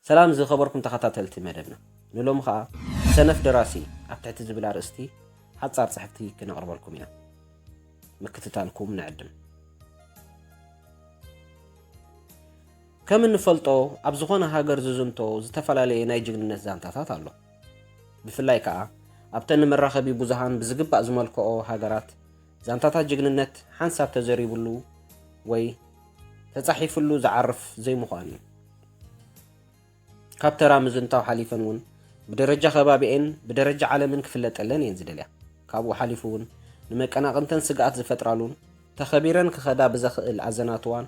ሰላም ዝኸበርኩም ተኸታተልቲ መደብና ንሎሚ ኸኣ ሰነፍ ደራሲ ኣብ ትሕቲ ዝብል ኣርእስቲ ሓጻር ጽሕፍቲ ክነቕርበልኩም ኢና ምክትታልኩም ንዕድም ከም እንፈልጦ ኣብ ዝኾነ ሃገር ዝዝንቶ ዝተፈላለየ ናይ ጅግንነት ዛንታታት ኣሎ ብፍላይ ከዓ ኣብተን ንመራኸቢ ብዙሃን ብዝግባእ ዝመልክኦ ሃገራት ዛንታታት ጅግንነት ሓንሳብ ተዘሪቡሉ ወይ ተጻሒፉሉ ዝዓርፍ ዘይምዃኑ እዩ። ካብ ተራ ምዝንታው ሓሊፈን እውን ብደረጃ ከባቢኤን ብደረጃ ዓለምን ክፍለጠለን እየን ዝደልያ። ካብኡ ሓሊፉ እውን ንመቀናቕንተን ስግኣት ዝፈጥራሉን ተኸቢረን ክኸዳ ብዘኽእል ኣዘናትዋን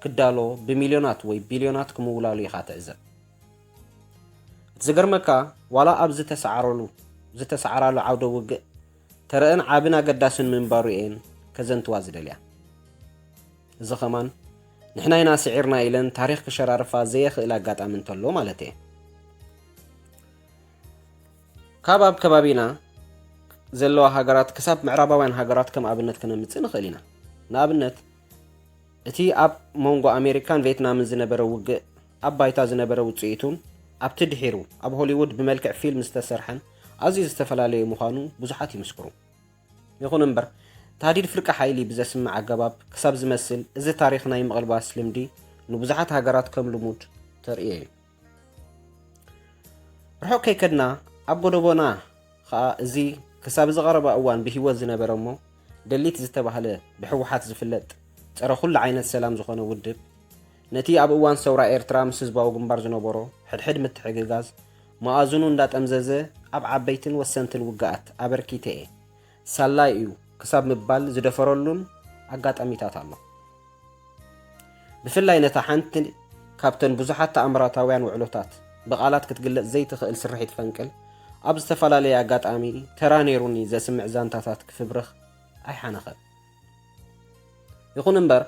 ክዳሎ ብሚልዮናት ወይ ቢልዮናት ክምውላሉ ኢኻ ትዕዘብ። እቲ ዝገርመካ ዋላ ኣብ ዝተሰዓረሉ ዝተሰዓራሉ ዓውደ ውግእ ተረእን ዓብን ኣገዳስን ምንባሩ እየን ከዘንትዋ ዝደልያ። እዚ ከማን ንሕና ኢና ስዒርና ኢለን ታሪኽ ክሸራርፋ ዘየኽእል ኣጋጣሚ እንተሎ ማለት እየ። ካብ ኣብ ከባቢና ዘለዋ ሃገራት ክሳብ ምዕራባውያን ሃገራት ከም ኣብነት ክነምጽእ ንኽእል ኢና። ንኣብነት እቲ ኣብ መንጎ ኣሜሪካን ቬትናምን ዝነበረ ውግእ ኣብ ባይታ ዝነበረ ውጽኢቱን ኣብቲ ድሒሩ ኣብ ሆሊውድ ብመልክዕ ፊልም ዝተሰርሐን ኣዝዩ ዝተፈላለየ ምዃኑ ብዙሓት ይምስክሩ። ይኹን እምበር፣ ታህዲድ ፍርቂ ሓይሊ ብዘስምዕ ኣገባብ ክሳብ ዝመስል እዚ ታሪኽ ናይ ምቕልባስ ልምዲ ንብዙሓት ሃገራት ከም ልሙድ ተርእዮ እዩ። ርሑቕ ከይከድና ኣብ ጎደቦና ኸኣ እዚ ክሳብ እዚ ቐረባ እዋን ብህይወት ዝነበረ እሞ ደሊት ዝተባህለ ብሕወሓት ዝፍለጥ ጸረ ኩሉ ዓይነት ሰላም ዝኾነ ውድብ ነቲ ኣብ እዋን ሰውራ ኤርትራ ምስ ህዝባዊ ግንባር ዝነበሮ ሕድሕድ ምትሕግጋዝ መኣዝኑ እንዳጠምዘዘ ኣብ ዓበይትን ወሰንትን ውግኣት ኣበርኪተ'የ፣ ሳላ'ዩ ክሳብ ምባል ዝደፈረሉን ኣጋጣሚታት ኣሎ። ብፍላይ ነታ ሓንቲ ካብተን ብዙሓት ተኣምራታውያን ውዕሎታት ብቓላት ክትግለጽ ዘይትኽእል ስርሒት ፈንቅል ኣብ ዝተፈላለየ ኣጋጣሚ ተራ ነይሩኒ ዘስምዕ ዛንታታት ክፍብርኽ ኣይሓነኸን። ይኹን እምበር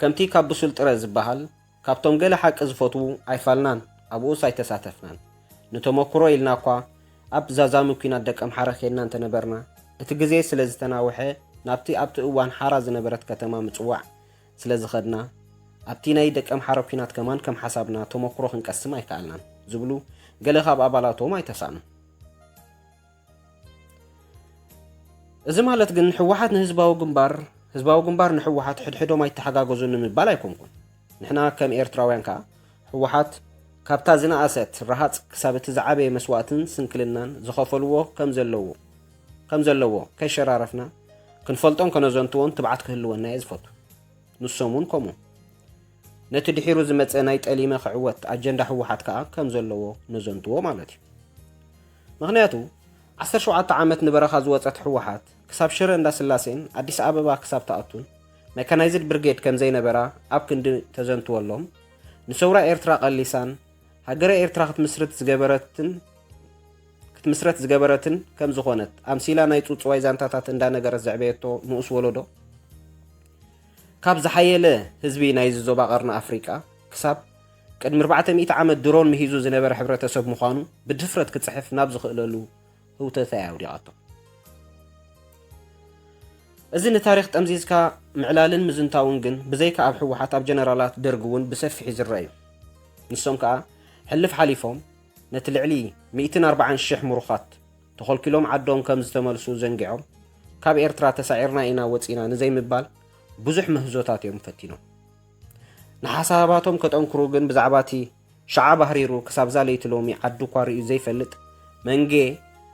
ከምቲ ካብ ብሱል ጥረ ዝበሃል ካብቶም ገለ ሓቂ ዝፈትዉ ኣይፋልናን ኣብኡስ ኣይተሳተፍናን። ንተመኩሮ ኢልና'ኳ ኣብ ዛዛሚ ኲናት ደቀምሓረ ኬድና እንተነበርና፣ እቲ ግዜ ስለ ዝተናውሐ ናብቲ ኣብቲ እዋን ሓራ ዝነበረት ከተማ ምጽዋዕ ስለ ዝኸድና፣ ኣብቲ ናይ ደቀምሓረ ኲናት ከማን ከም ሓሳብና ተመኩሮ ክንቀስም ኣይከኣልናን ዝብሉ ገለ ካብ ኣባላቶም ኣይተሳእኑን። እዚ ማለት ግን ህወሓት ንህዝባዊ ግንባር ህዝባዊ ግንባር ንህወሓት ሕድሕዶም ኣይተሓጋገዙን ንምባል ኣይኮንኩን ንሕና ከም ኤርትራውያን ከዓ ህወሓት ካብታ ዝነኣሰት ረሃፅ ክሳብ እቲ ዝዓበየ መስዋእትን ስንክልናን ዝኸፈልዎ ከም ዘለዎ ከም ዘለዎ ከይሸራረፍና ክንፈልጦን ከነዘንትዎን ትብዓት ክህልወና እየ ዝፈቱ ንሶም እውን ከምኡ ነቲ ድሒሩ ዝመፀ ናይ ጠሊመ ክዕወት ኣጀንዳ ህወሓት ከዓ ከም ዘለዎ ነዘንትዎ ማለት እዩ ምኽንያቱ ዓሰርተ ሸውዓተ ዓመት ንበረኻ ዝወጸት ህወሓት ክሳብ ሽረ እንዳስላሴን ኣዲስ ኣበባ ክሳብ ትኣቱን መካናይዝድ ብርጌድ ከምዘይነበራ ኣብ ክንዲ ተዘንትወሎም ንሰውራ ኤርትራ ቀሊሳን ሃገረ ኤርትራ ክትምስርት ዝገበረትን ክትምስረት ዝገበረትን ከም ዝኾነት ኣምሲላ ናይ ጽውጽዋይ ዛንታታት እንዳነገረት ዘዕበየቶ ንኡስ ወለዶ ካብ ዝሓየለ ህዝቢ ናይዚ ዞባ ቀርኒ ኣፍሪቃ ክሳብ ቅድሚ ኣርባዕተ ሚእቲ ዓመት ድሮን ምሂዙ ዝነበረ ሕብረተሰብ ምዃኑ ብድፍረት ክጽሕፍ ናብ ዝኽእለሉ ህውተታ እያ ኣውዲቓቶ። እዚ ንታሪኽ ጠምዚዝካ ምዕላልን ምዝንታውን ግን ብዘይካ ኣብ ህወሓት ኣብ ጀነራላት ደርግ እውን ብሰፊሒ ዝረእ እዩ። ንሶም ከኣ ሕልፍ ሓሊፎም ነቲ ልዕሊ ሚእትን ኣርባዓን ሽሕ ምሩኻት ተኾልኲሎም ዓዶም ከም ዝተመልሱ ዘንጊዖም ካብ ኤርትራ ተሳዒርና ኢና ወጺና ንዘይምባል ብዙሕ ምህዞታት እዮም ፈቲኖም። ንሓሳባቶም ከጠንክሩ ግን ብዛዕባ እቲ ሸዓ ባህሪሩ ክሳብዛ ለይቲ ሎሚ ዓዱ እኳ ርእዩ ዘይፈልጥ መንጌ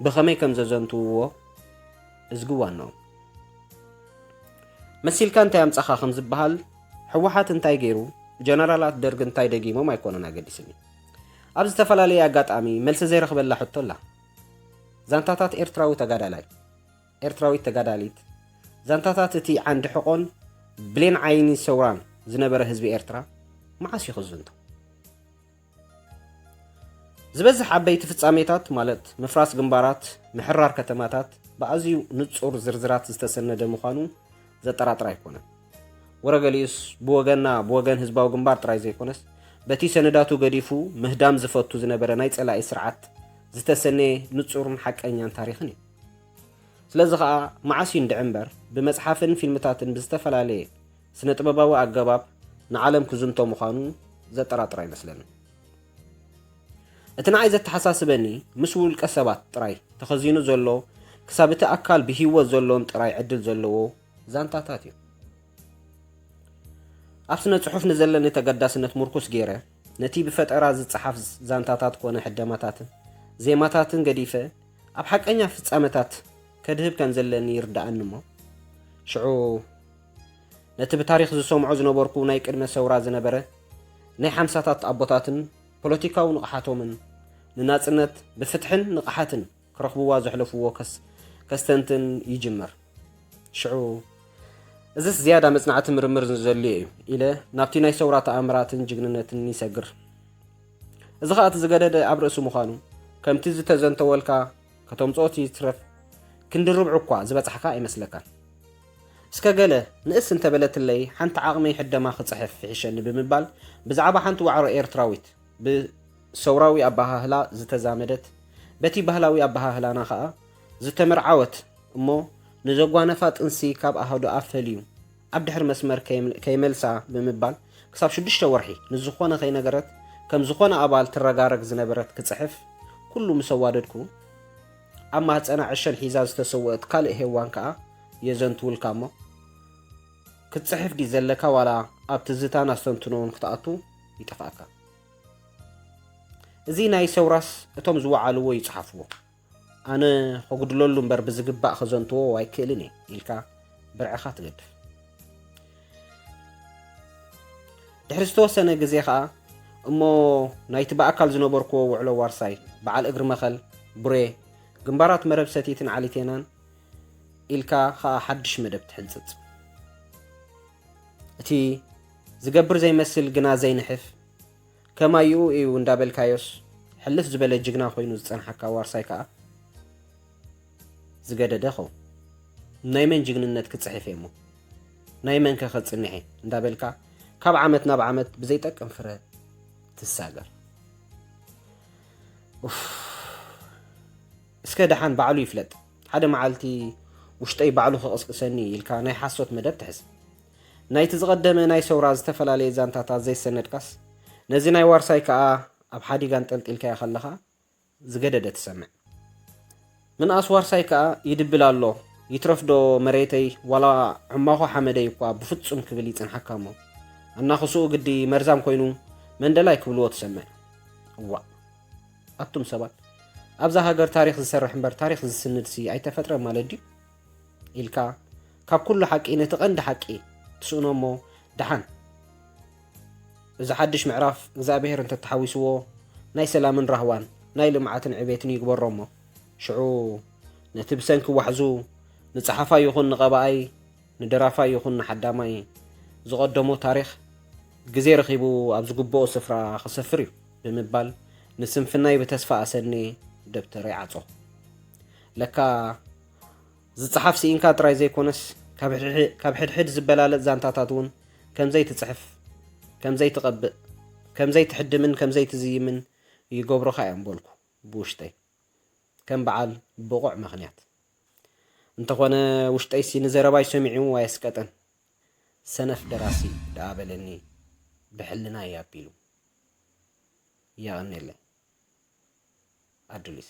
ብኸመይ ከም ዘዘንትውዎ እዝጊ ዋኖም መሲልካ እንታይ ኣምጻኻ ከም ዝበሃል ሕወሓት እንታይ ገይሩ ጀነራላት ደርግ እንታይ ደጊሞም ኣይኮነን ኣገዲስኒ ኣብ ዝተፈላለየ ኣጋጣሚ መልሲ ዘይረኽበላ ሕቶ ኣላ ዛንታታት ኤርትራዊ ተጋዳላይ ኤርትራዊት ተጋዳሊት፣ ዛንታታት እቲ ዓንዲ ሕቖን ብሌን ዓይኒ ሰውራን ዝነበረ ህዝቢ ኤርትራ መዓስ እዩ ክዝንቶ? ዝበዝሕ ዓበይቲ ፍጻሜታት ማለት ምፍራስ ግንባራት፣ ምሕራር ከተማታት ብኣዝዩ ንጹር ዝርዝራት ዝተሰነደ ምዃኑ ዘጠራጥር ኣይኮነን። ወረ ገሊኡስ ብወገንና ብወገን ህዝባዊ ግንባር ጥራይ ዘይኮነስ በቲ ሰነዳቱ ገዲፉ ምህዳም ዝፈቱ ዝነበረ ናይ ጸላኢ ስርዓት ዝተሰነየ ንጹርን ሓቀኛን ታሪኽን እዩ። ስለዚ ኸኣ መዓስ እዩ እንድዒ እምበር ብመጽሓፍን ፊልምታትን ብዝተፈላለየ ስነ ጥበባዊ ኣገባብ ንዓለም ክዝንቶ ምዃኑ ዘጠራጥር ኣይመስለንን። እቲ ንዓይ ዘተሓሳስበኒ ምስ ውልቀ ሰባት ጥራይ ተኸዚኑ ዘሎ ክሳብ እቲ ኣካል ብህይወት ዘሎን ጥራይ ዕድል ዘለዎ ዛንታታት እዩ። ኣብ ስነ ጽሑፍ ንዘለኒ ተገዳስነት ምርኩስ ገይረ ነቲ ብፈጠራ ዝጸሓፍ ዛንታታት ኮነ ሕደማታትን ዜማታትን ገዲፈ ኣብ ሓቀኛ ፍጻመታት ከድህብ ከም ዘለኒ ይርድኣኒ እሞ ሽዑ ነቲ ብታሪኽ ዝሰምዖ ዝነበርኩ ናይ ቅድመ ሰውራ ዝነበረ ናይ ሓምሳታት ኣቦታትን ፖለቲካዊ ንቕሓቶምን ንናጽነት ብፍትሕን ንቕሓትን ክረኽብዋ ዘሕለፍዎ ከስ ከስተንትን ይጅምር ሽዑ እዝስ ዝያዳ መጽናዕቲ ምርምር ዘድልዮ እዩ ኢለ ናብቲ ናይ ሰውራ ተኣምራትን ጅግንነትን ይሰግር እዚ ኸኣ እቲ ዝገደደ ኣብ ርእሲ ምዃኑ ከምቲ ዝተዘንተወልካ ከተምጽኦ እቲ ይትረፍ ክንዲ ርብዑ እኳ ዝበጻሕካ ኣይመስለካን። እስከ ገለ ንእስ እንተ በለትለይ ሓንቲ ዓቕመይ ሕደማ ክጽሕፍ ይሕሸኒ ብምባል ብዛዕባ ሓንቲ ዋዕሮ ኤርትራዊት ብ ሰውራዊ ኣበሃህላ ዝተዛመደት በቲ ባህላዊ ኣበሃህላና ኸኣ ዝተመርዓወት እሞ ንዘጓነፋ ጥንሲ ካብ ኣሃዱኣ ፈልዩ ኣብ ድሕሪ መስመር ከይመልሳ ብምባል ክሳብ ሽዱሽተ ወርሒ ንዝኾነ ከይነገረት ከም ዝኾነ ኣባል ትረጋረግ ዝነበረት ክጽሕፍ ኩሉ ምስ ኣዋደድኩ ኣብ ማህጸና ዕሸል ሒዛ ዝተሰወእት ካልእ ሄዋን ከኣ የዘንትውልካ እሞ ክትጽሕፍ ዲ ዘለካ ዋላ ኣብ ትዝታን ኣስተንትኖውን ክትኣቱ ይጠፍኣካ እዚ ናይ ሰውራስ እቶም ዝወዓልዎ ይጽሓፍዎ ኣነ ከጉድለሉ እምበር ብዝግባእ ከዘንትዎ ኣይክእልን እየ ኢልካ ብርዕኻ ትገድፍ ድሕሪ ዝተወሰነ ግዜ ከዓ እሞ ናይቲ ብኣካል ዝነበርክዎ ውዕሎ ዋርሳይ በዓል እግሪ መኸል ቡሬ ግንባራት መረብ ሰቲትን ዓሊቴናን ኢልካ ከዓ ሓድሽ መደብ ትሕንፅፅ እቲ ዝገብር ዘይመስል ግና ዘይንሕፍ ከማይኡ ኢዩ እንዳበልካዮስ ሕልፍ ዝበለ ጅግና ኮይኑ ዝጸንሓካ ዋርሳይ ከኣ ዝገደደ ኸው ናይ መን ጅግንነት ክጽሕፍ እየ እሞ ናይ መን ከ ከጽንሕ እየ እንዳበልካ ካብ ዓመት ናብ ዓመት ብዘይጠቅም ፍረ ትሳገር እስከ ደሓን ባዕሉ ይፍለጥ ሓደ መዓልቲ ውሽጠይ ባዕሉ ክቕስቅሰኒ ኢልካ ናይ ሓሶት መደብ ትሕዝ ናይቲ ዝቐደመ ናይ ሰውራ ዝተፈላለየ ዛንታታት ዘይሰነድካስ፣ ነዚ ናይ ዋርሳይ ከኣ ኣብ ሓዲግ ኣንጠልጢልካዮ ከለኻ ዝገደደ ትሰምዕ። ምንኣስ ዋርሳይ ከኣ ይድብል ኣሎ፣ ይትረፍዶ መሬተይ ዋላ ዕማኾ ሓመደይ እኳ ብፍጹም ክብል ይጽንሓካ'ሞ፣ ኣናኽስኡ ግዲ መርዛም ኮይኑ መንደላይ ክብልዎ ትሰምዕ። እዋእ! ኣቱም ሰባት፣ ኣብዛ ሃገር ታሪኽ ዝሰርሕ እምበር ታሪኽ ዝስንድሲ ኣይተፈጥረን ማለት ድዩ? ኢልካ ካብ ኩሉ ሓቂ ነቲ ቀንዲ ሓቂ ትስእኖ እሞ ደሓን እዚ ሓድሽ ምዕራፍ እግዚኣብሔር እንተተሓዊስዎ ናይ ሰላምን ራህዋን ናይ ልምዓትን ዕቤትን ይግበሮ እሞ ሽዑ ነቲ ብሰንኪ ዋሕዙ ንጸሓፋይ ይኹን ንቐባኣይ ንደራፋይ ይኹን ንሓዳማይ ዝቐደሞ ታሪኽ ግዜ ረኺቡ ኣብ ዝግብኦ ስፍራ ክሰፍር እዩ ብምባል ንስንፍናይ ብተስፋ ኣሰኔ ደብተረይ ዓጾ ለካ ዝጸሓፍ ስኢንካ ጥራይ ዘይኮነስ ካብ ሕድሕድ ዝበላለጽ ዛንታታት እውን ከምዘይትጽሕፍ ከምዘይትቐብእ ከምዘይትሕድምን ከምዘይትዝይምን ይገብሩኻ እዮም በልኩ ብውሽጠይ ከም በዓል ብቑዕ ምኽንያት እንተኾነ ውሽጠይሲ ንዘረባይ ሰሚዑ ኣየስቀጠን። ሰነፍ ደራሲ ደኣ በለኒ ብሕልና እዩ ኣቢሉ። የቐኔለይ ኣዱሊስ